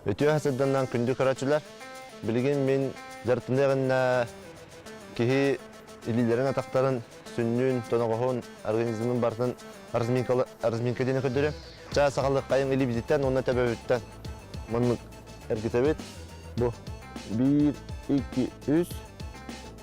Үтүө сырданнан күндү көрөчүлэр. Билигин мин дьарыктаныаҕынна киһи илиилэрин атахтарын сүннүүн тоноҕоһун организмын бартын разминка диэн көрдөрү. Ча сахалыққайың илибититтен онна төбөбүттен маннык эргитэбит. Бу 1, 2, 3,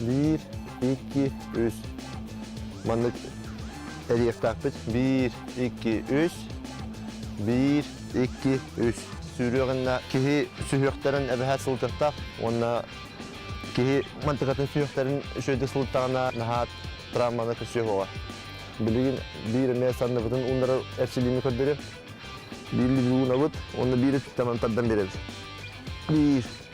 Биир, икки, үс. Маннык эриэхтээхпит. Биир, икки, үс. Биир, икки, үс. Сүүрүөҕүннэ киһи сүһүөхтэрин эбэһэ сылдьаттаах уонна киһи мантыкатын сүһүөхтэрин үчүөйдүк сылдтаҕына наһаа травманы көсүөх оҕо. Билигин биир эмэ санныбытын ууннары эрчилиини көрдөрү. Биир луунабыт уонна биир ититтэмэн тардан биэрэбит. Биир,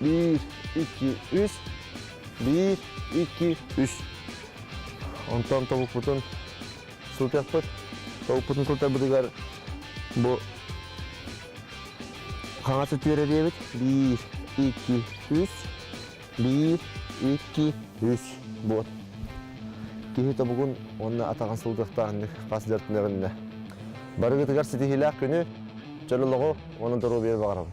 Биир, iki, үс. Биир, iki, үс. Онтон тобукпутун сутуйахпыт. Тобукпутун куртарбытыгар бу хаҥас өттүгэр эриэбит. Биир, iki, үс. Биир, iki, үс. Вот. Киһи тобугун уонна атаҕын сылдыахтаахыннык хас дьартынарынна. Барыгытыгар ситиһиилээх күнү, чөл олоҕу уонна доруобуйа баҕарабын.